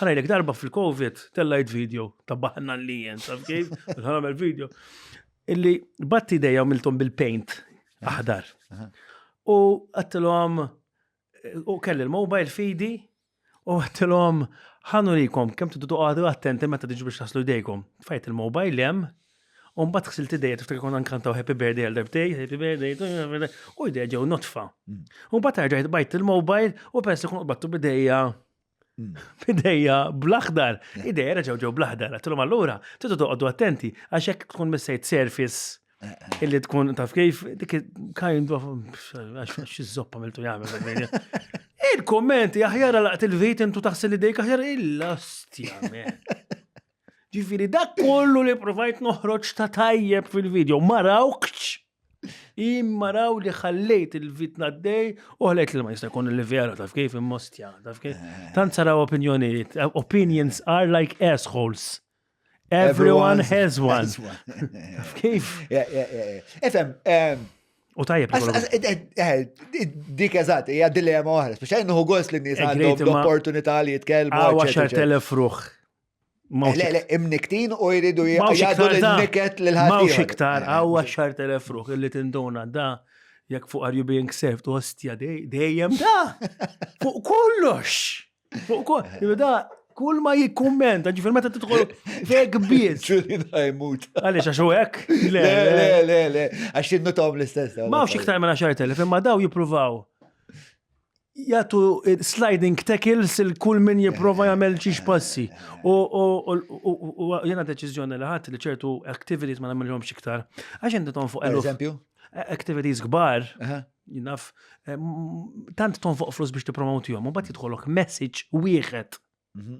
Ara jlek darba fil-Covid tellajt video ta' baħna li jen, taf kif? Għamel video. Illi batti dejja miltom bil-paint aħdar. U għattilom, u kelli l-mobile fidi, u għattilom, ħanu likom, kem t għadu attenti meta tiġu biex taslu dejkom. Fajt il-mobile jem, un bat xsil t-dejja, tiftakar kon nkantaw happy birthday għal darbtej, happy birthday, u id-dejja ġew notfa. Mm. Un bat għarġajt bajt il-mobile, u pers li kun battu bidejja Bidejja hmm. bl-aħdar, idejja reġaw ġew bl-aħdar, għatilhom allura, tidu toqgħodu attenti, għax hekk tkun missejt surface eh, eh. illi tkun taf kif dik kind of għax iż-zoppa miltu jagħmel. Il-kommenti aħjar laqt il-vit intu taħsel idejk aħjar il-lastja. Ġifiri, dak kollu li provajt noħroġ ta' tajjeb fil-video, marawkċ, immaraw li ħallejt il-vitna d-dej u ħallejt li ma jista' jkun li vera taf kif immostja, taf kif. Eh. Tant saraw opinjonijiet, eh, opinions are like assholes. Everyone has one. Kif? Efem, U tajjeb. Dik eżat, hija dilema oħra, speċjali nħu gost li nies għandhom l-opportunità li jitkellmu. Għawa xar telefruħ. Mawx Le, le, imniktin u jridu Mawx jgħadu iktar da. l-niket l Mawx iktar, għaw għaxar telef ruħ illi tinduna da jekk fuq are you being served ostja dej- dejjem da. Fuq kollox. Fuq kollox. Jew Da, kull ma jikkummenta, ġifir meta tidħol fek biss. Ġuri da jmut. Għaliex għax u hekk? Le, Le, le, le, le, le. Għax jinnutom l-istess. Mawx iktar minn 10,000 imma daw jippruvaw jagħtu sliding tackles il kull min jipprova jagħmel xi passi. U jiena deċiżjoni li ħadd li ċertu activities ma nagħmilhomx iktar. Għax inti tonfoq eluf. Eżempju? Activities kbar, jinaf, tant tonfoq flus biex tippromotihom, u bat jidħolok message wieħed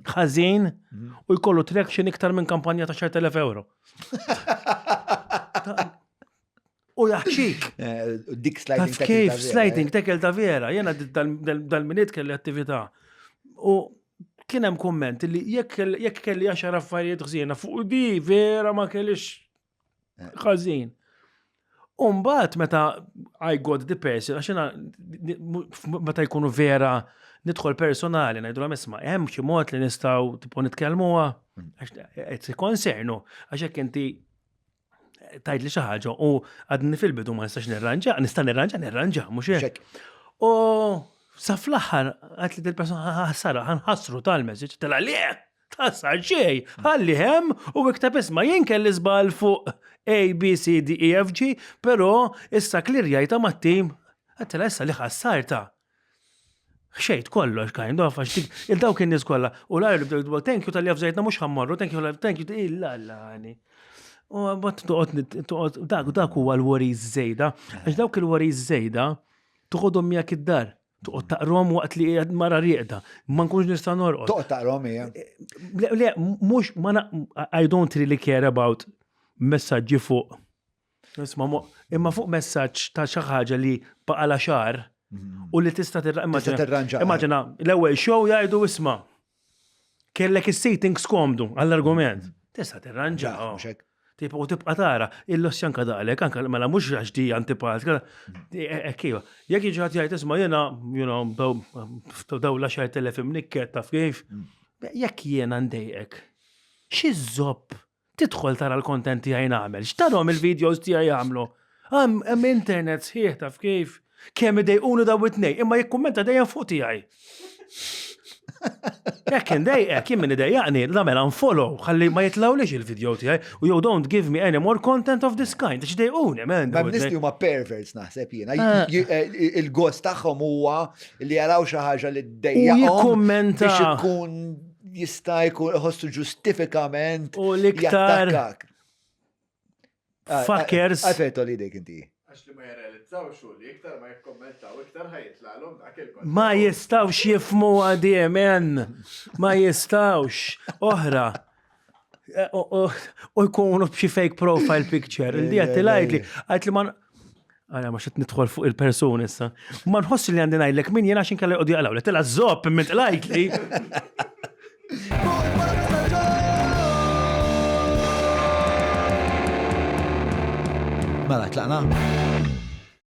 ħażin mhm. u jkollu traction iktar minn kampanja ta' 10,000 euro. U jaħċik. Eh, dik sliding tackle. Kif sliding tackle ta' vera, jena dal-minit kelli attività. U kienem komment li jekk kelli għaxar affarijiet ħżiena fuq di vera ma kellix Ħażin. Umbat meta I got the person, għaxina meta jkunu vera nidħol personali, najdu għam isma, hemm xi mod li nistaw tipo nitkellmuha, għax konsernu, għax jekk inti tajt li xi ħaġa u għadni fil-bidu ma nistax nirranġa, nista' nirranġa, nirranġa, mhux hekk. U sa fl-aħħar għad li dil-persuna ħassara ħanħassru tal-message tal-għalih. Tħassar xej, ħalli hemm u ikteb isma' jien kelli żball fuq A, B, C, D, E, F, G, però issa klirjajta mat-tim. Għattela issa li ħassarta. Xejt kollox kind of, għax il-dawk in-nies kollha. U l-għajr bdew thank you tal-li għafżajtna mhux ħammorru, thank you, thank you, illa l-għani. U għabat toqgħod dak dak huwa l-wariz żejda, għax dawk il-wariz żejda toħodhom miegħek id-dar. Toqgħod taqrom waqt li qiegħed mara rieqda, ma nkunx nista' norqod. Toqgħod taqrom hija. Le, mhux ma I don't really care about messaġġi fuq. Imma fuq messaġġ ta' xi ħaġa li baqala xar mhm. u li tista' tirranġa. Immaġina, l-ewwel show jgħidu isma' Kellek is-seating skomdu għall-argument. Tista' tirranġa. Tibqa' u tibqa' tara, il-loss janka daqlek, anka mela mhux għax di antipat, ekkiva. Mm. Eh, Jekk jiġi ħadd jgħid isma' jiena, you know, daw l-10,000 imnikket taf kif. Mm. Jekk jiena ndejqek, xi żopp Tidħol tara l-content tiegħi nagħmel. X'tarhom il-videos tiegħi jagħmlu? Hemm internet sħiħ taf kif. Kemm idejquni daw it-tnej, imma jikkummenta dejjem fuq tiegħi. Jekk indejqek, jien min idejjaqni, nagħmel unfollow, ħalli ma jitlawlix il-video tiegħi u you don't give me any more content of this kind, għax dejquni, man. Ma nisti huma perverts naħseb jiena. Ah. Eh, il-gost tagħhom huwa li jaraw xi ħaġa li ddejjaqhom. Jikkummenta. Biex ikun jista' jkun iħossu ġustifikament u l-iktar ah, fuckers. Ah, Għafetu li dek inti. Għax li ma jirrealizzawx u li iktar ma jikkommentaw iktar ħajitlalhom dak il Ma jistawx jifmu għadiem, en. Ma jistawx. Oħra. Eh, u jkunu b'xi fake profile picture. Il-dijat eh, eh, li għajt li man. Għara, ma xit nidħol fuq il-person issa. Ma nħossi li għandi ngħidlek min jena xin kalli għodja għalaw, li tela zopp minn tlajt li. Mela, tlaqna?